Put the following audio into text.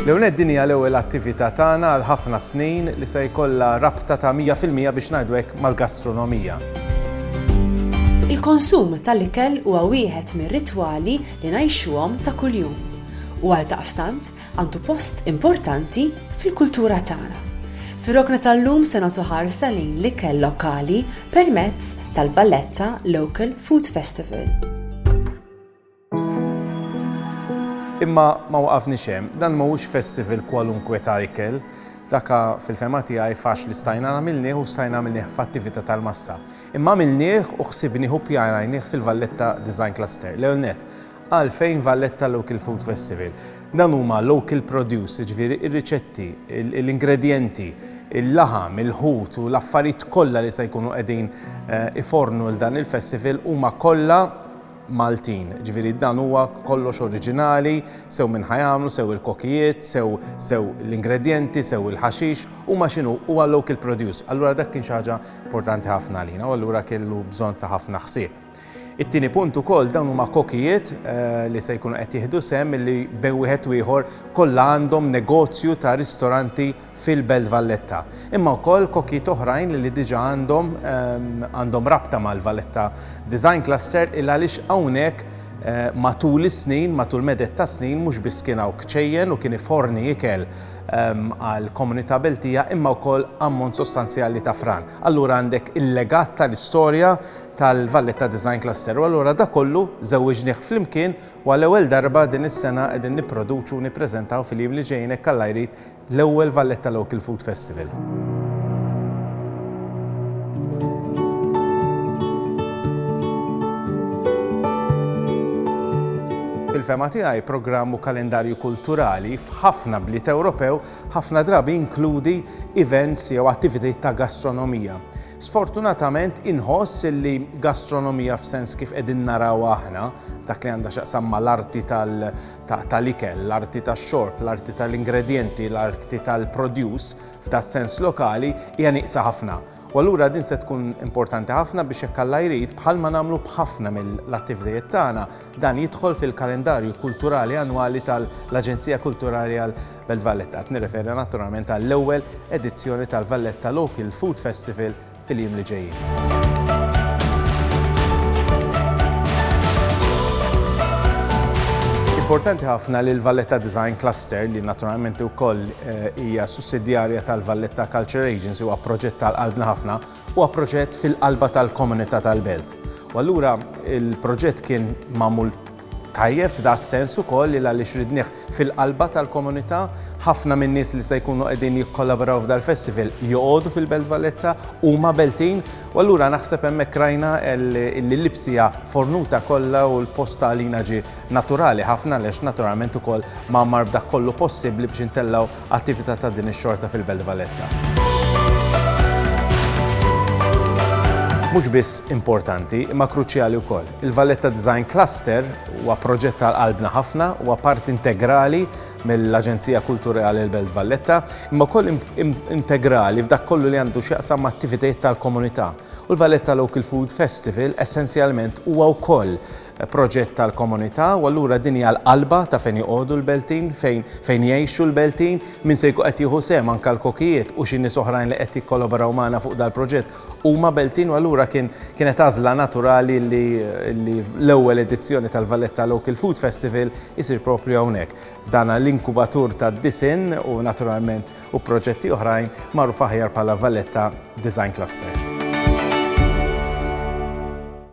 L-ewwel nett din hija l-ewwel attività tagħna għal ħafna snin li se jkollha rabta ta' mija fil-mija biex ngħidu hekk mal-gastronomija. Il-konsum tal-ikel huwa wieħed mir-ritwali li ngħixuhom ta' kuljum u għaldaqstant għandu post importanti fil-kultura tagħna. Fir-rokna tal-lum se nagħtu ħarsa lejn l-ikel lokali permezz tal-Valletta Local Food Festival. Imma ma waqafni xem, dan ma ux festival kwalunkwe ta' ikel, daka fil-fema tiegħi fax li stajna għamilnieh u stajna għamilnieh f'attività tal-massa. Imma għamilnieh u ħsibnieh u pjanajnieh fil-Valletta Design Cluster. L-ewwel net, Għalfejn Valletta Local Food Festival? Dan huma local produce, jiġifieri r-riċetti, l-ingredjenti, il-laħam, il-ħut u l-affarijiet kollha li se jkunu qegħdin eh, ifornu l dan il-festival huma kollha Maltin. Ġifieri dan huwa kollox oriġinali, sew minn ħajamlu, sew il-kokijiet, sew sew l-ingredjenti, sew il-ħaxix, huma x'inhu huwa local produce. Allura dak kien xi ħaġa importanti ħafna għalina u allura kellu bżonn ta' ħafna ħsieb. It-tieni punt ukoll dawn huma kokijiet li se jkunu qed jieħdu sehem illi bejn wieħed u ieħor kollha għandhom negozju ta' ristoranti fil-Belt Valletta. Imma wkoll kokijiet oħrajn illi diġà għandhom għandhom rabta mal-Valletta Design Cluster il għaliex hawnhekk matul is-snin, matul meded ta' snin mhux biss kien hawn kċejjen u kien iforni ikel għall-komunità Beltija imma wkoll ammont sostanzjali ta' fran. Allura għandek il-legat tal-istorja tal-Valletta Design Cluster u allura dak kollu żewwiġnieh flimkien u għall-ewwel darba din is-sena qegħdin nipproduċu u nippreżentaw fil-jiem li ġejjin hekk Alla jrid l-ewwel Valletta Local Food Festival. Fil-fehma tiegħi programm u kalendarju kulturali f'ħafna bliet Ewropew ħafna drabi jinkludi events jew attivitajiet ta' gastronomija. Sfortunatament inħoss illi gastronomija f'sens kif qegħdin narawha aħna, dak li għandha x'jaqsam mal-arti tal-ikel, l-arti tax-xorb, l-arti tal-ingredjenti, l-arti tal-produce f'das-sens lokali, hija nieqsa ħafna. U allura din se tkun importanti ħafna biex jekk Alla jrid, bħalma nagħmlu b'ħafna mill-attivtajiet tagħna, Dan jidħol fil-kalendarju kulturali annwali tal-Aġenzija Kulturali għall-Belt Valletta. Qed nirreferi naturalment għall-ewwel edizzjoni tal-Valletta Local Food Festival fil-jiem li ġejjin. Importanti ħafna li l-Valletta Design Cluster, li naturalment ukoll eh, hija sussidjarja tal-Valletta Culture Agency, huwa proġett tal-qalbna ħafna, Huwa proġett fil-qalba tal-komunità tal-Belt u allura l-proġett kien magħmul tajjeb f'das-sens ukoll li għaliex ridnih fil-qalba tal-komunità, ħafna min-nies li se jkunu qegħdin jikkollaboraw f'dal-festival joqogħdu fil-Belt Valletta, huma Beltin u allura naħseb hemmhekk rajna li l-Ibsija fornuta kollha u l-post għalina ġie naturali ħafna għaliex naturalment ukoll mgħammar b'dak kollu possibbli biex intellgħu Attività ta' din ix-xorta fil-Belt Valletta. Mhux biss importanti, imma kruċjali wkoll. Il-Valletta Design Cluster huwa proġett ta' qalbna ħafna, huwa parti integrali mill-Aġenzija Kulturali l-Belt Valletta, imma wkoll integrali f'dak kollu li għandu x'jaqsam ma' attivitajiet tal-komunità. U l-Valletta Local Food Festival essenzjalment huwa wkoll proġett tal-komunità u allura din hija l-qalba ta' fejn joqogħdu l-Beltin, fejn fejn jgħixu l-Beltin, min se jkun qed jieħu sehem anke l-kokijiet u xi nies oħrajn li qed jikkolaboraw magħna fuq dal-proġett huma Beltin u allura kien kienet għażla naturali li li l-ewwel edizzjoni tal-Valletta Local Food Festival isir proprju hawnhekk f'dan l-inkubatur tad-disinn u naturalment u proġetti oħrajn magħruf aħjar bħala Valletta Design Cluster.